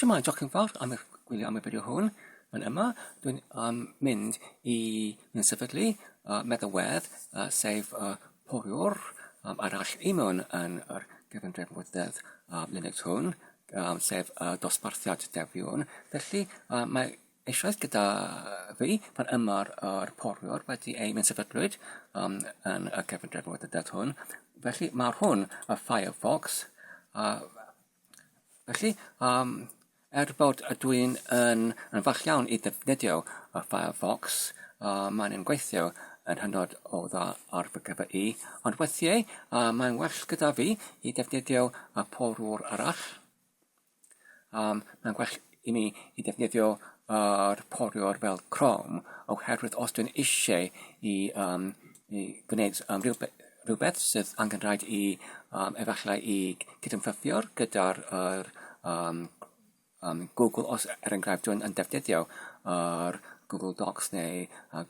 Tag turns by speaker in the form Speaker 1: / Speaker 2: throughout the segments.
Speaker 1: Shwmae, diolch yn fawr am eich gwylio am y fideo hwn. Yn yma, dwi'n um, mynd i mynd sefydlu uh, meddalwedd uh, sef uh, poriwr um, arall i mewn yn yr gefndref mwydedd uh, Linux hwn, um, sef uh, dosbarthiad defiwn. Felly, uh, mae eisoes gyda fi pan yma'r uh, poriwr wedi ei mynd sefydlwyd um, yn y gefndref mwydedd hwn. Felly, mae hwn y Firefox uh, Felly, um, er bod ydw i'n yn, yn fach iawn i ddefnyddio y Firefox, uh, mae'n yn gweithio yn hynod o dda ar fy gyfer i, ond weithiau uh, mae'n well gyda fi i ddefnyddio y porwr arall. Um, mae'n well i mi i ddefnyddio yr poriwr fel Chrome oherwydd os dwi'n eisiau i, um, i gwneud um, rhywbeth, rhywbeth sydd angen rhaid i um, efallai i cydymffurfio gyda'r er, um, um, Google os er enghraifft dwi'n yn defnyddio yr er Google Docs neu uh,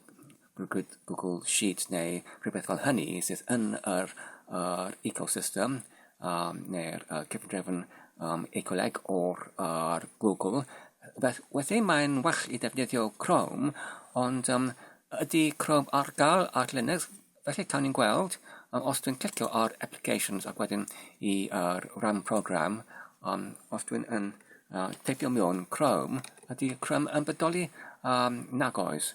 Speaker 1: rhwyd Google Sheet neu rhywbeth fel hynny sydd yn yr, yr ecosystem um, neu'r uh, cyfundrefn um, ecoleg o'r ar Google. Beth, wedyn mae'n well i ddefnyddio Chrome, ond um, ydy Chrome ar gael ar Linux, felly cawn ni'n gweld um, os dwi'n clicio ar Applications ac wedyn i uh, ran program, um, os dwi'n yn uh, teipio mewn Chrome, ydy Chrome yn bodoli um, nag oes.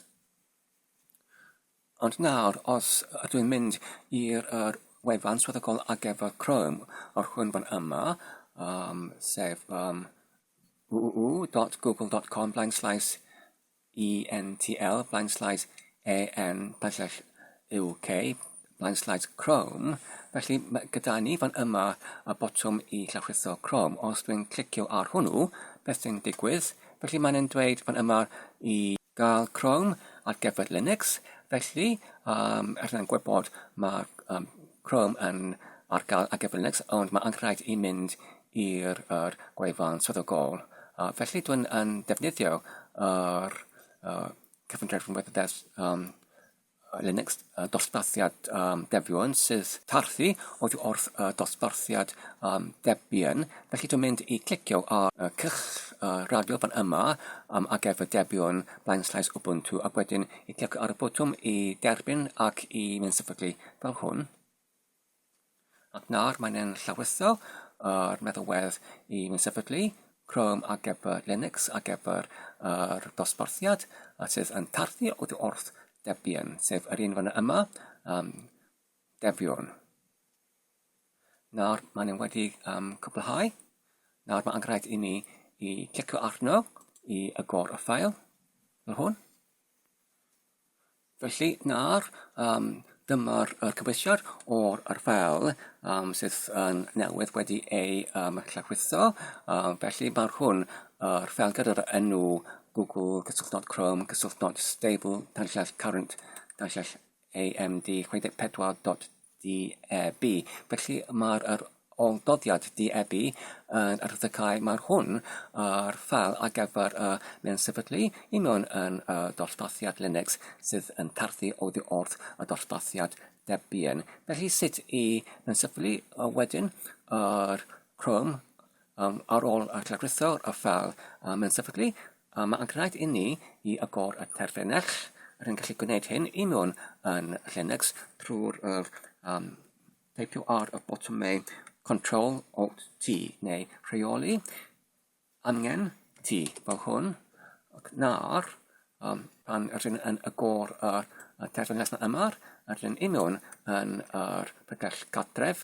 Speaker 1: Ond nawr, os ydw i'n mynd i'r er wefan swyddogol ar gyfer Chrome, o'r hwn fan yma, um, sef um, www.google.com blaen slaes ENTL blaen slaes AN blaen slaes UK Blank Slides Chrome, felly mae gyda ni fan yma y botwm i llawrlwytho Chrome. Os dwi'n clicio ar hwnnw, beth sy'n digwydd? Felly mae'n yn dweud fan yma i gael Chrome ar gyfer Linux, felly um, er yna'n gwybod mae um, Chrome yn ar gael ar gyfer Linux, ond mae anghraid i mynd i'r er gwefan swyddogol. Uh, felly dwi'n yn defnyddio yr er, uh, cyfundrefn wybodeth um, Linux dosbarthiad Debian sydd tarfu oddi wrth dosbarthiad Debian. Felly dwi'n mynd i clicio ar y cylch radio fan yma um, ar gefn Debian blaen slaes Ubuntu ac wedyn i clicio ar y botwm i derbyn ac i mynd sefydlu fel hwn. Ac nawr mae'n hen llawestydd yr meddalwedd i mi sefydlu Chrome ar gyfer Linux ar gyfer yr dosbarthiad a sydd yn tarfu oddi wrth Debian, sef yr un fan yma, um, Debian. Nawr mae'n nhw'n wedi um, cwblhau. Nawr mae'n angraid i mi i clicio arno i agor y ffael fel hwn. Felly, nawr, um, dyma'r uh, cyfeisiad o'r ar fel um, sydd yn uh, newydd wedi ei um, llawrwytho. Um, felly, mae'r hwn uh, ar fel gyda'r enw Google cysylltnod Chrome cysylltnod stable tanllall current tanllall AMD 64.2 DEB. Felly mae'r yr ôl-doddiad DEB yn yr ddecau mae'r hwn ar ffal ar gyfer y mewn sefydlu i mewn yn y dosbarthiad Linux sydd yn tarthu oddi wrth y dosbarthiad Debian. Felly sut i mewn sefydlu wedyn yr Chrome Um, ar ôl y llagrythor a fel um, yn sefydlu, um, mae'n gwneud i ni i agor y terfynell. Rwy'n gallu gwneud hyn i mewn yn Linux trwy'r uh, um, teipio ar y botwmau Control Alt T neu rheoli angen T fel hwn ac nawr um, pan rydyn yn agor y, y terfynell yma rydyn i mewn yn yr pregell gadref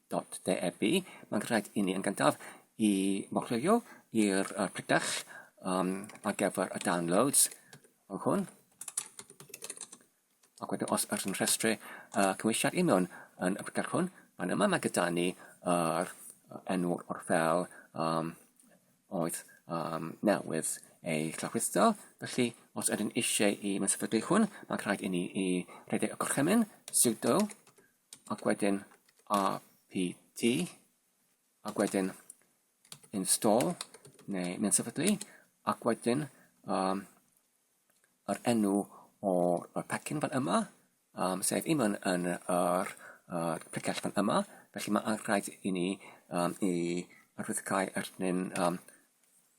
Speaker 1: Dot de Ebi, mae'n rhaid i ni yn gyntaf i mochleuo i'r uh, prytach um, ar gyfer y downloads fel hwn. Ac wedyn os ydych yn rhestru uh, cymwysiad i mewn yn y prytach hwn, fan yma mae gyda ni yr uh, enw o'r fel um, oedd um, newydd ei llawrlwytho. Felly, os ydyn eisiau i mynd sefydlu hwn, mae'n rhaid i ni i rhedeg y gorchymyn, sudo, ac wedyn rpt, ac wedyn install neu mynd sefydlu, ac wedyn um, yr enw o'r pecyn fan yma, um, sef un yn, yn yr uh, precell fan yma, felly mae'n rhaid i ni um, i arwyddocau arnyn um,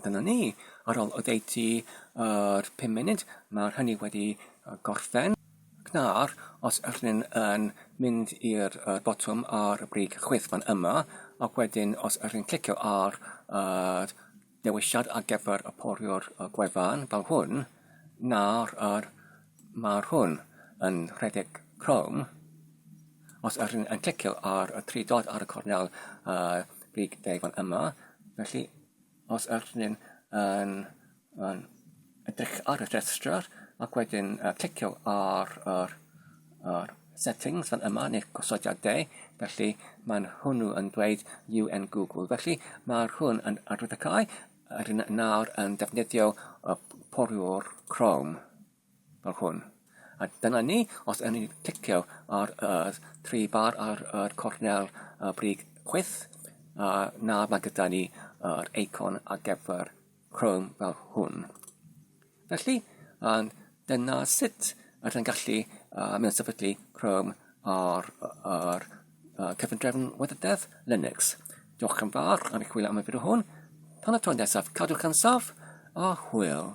Speaker 1: A dyna ni. Ar ôl oddeutu yr 5 munud, mae'r hynny wedi gorffen. Gnar, os ydych chi'n yn mynd i'r uh, botwm ar y brig chwith fan yma, ac wedyn os ydych chi'n clicio ar yr uh, dewisiad ar gyfer y poriwr gwefan fel hwn na'r yr mae'r hwn yn rhedeg Chrome. Os ydych chi'n clicio ar y tri dod ar y cornel uh, big day fan yma, felly os ydych chi'n yn, yn Edrych ar y rhestr ac wedyn clicio ar yr, yr settings fan yma neu'r gosodiadau. Felly mae'n hwnnw yn dweud UN Google. Felly mae'r hwn yn arwydd y cae yr un nawr yn defnyddio y poriwr Chrome fel hwn. A dyna ni, os yn ni'n clicio ar y tri bar ar y cornel y brig chwyth, a nawr mae gyda ni yr eicon ar gyfer Chrome fel hwn. Felly, um, dyna sut ydych chi'n gallu uh, mynd sefydlu Chrome ar, ar uh, cyfundrefn weddydedd Linux. Diolch yn fawr am eich chwilio am y fideo hwn. Tan y tro nesaf, cadwch yn saf a hwyl.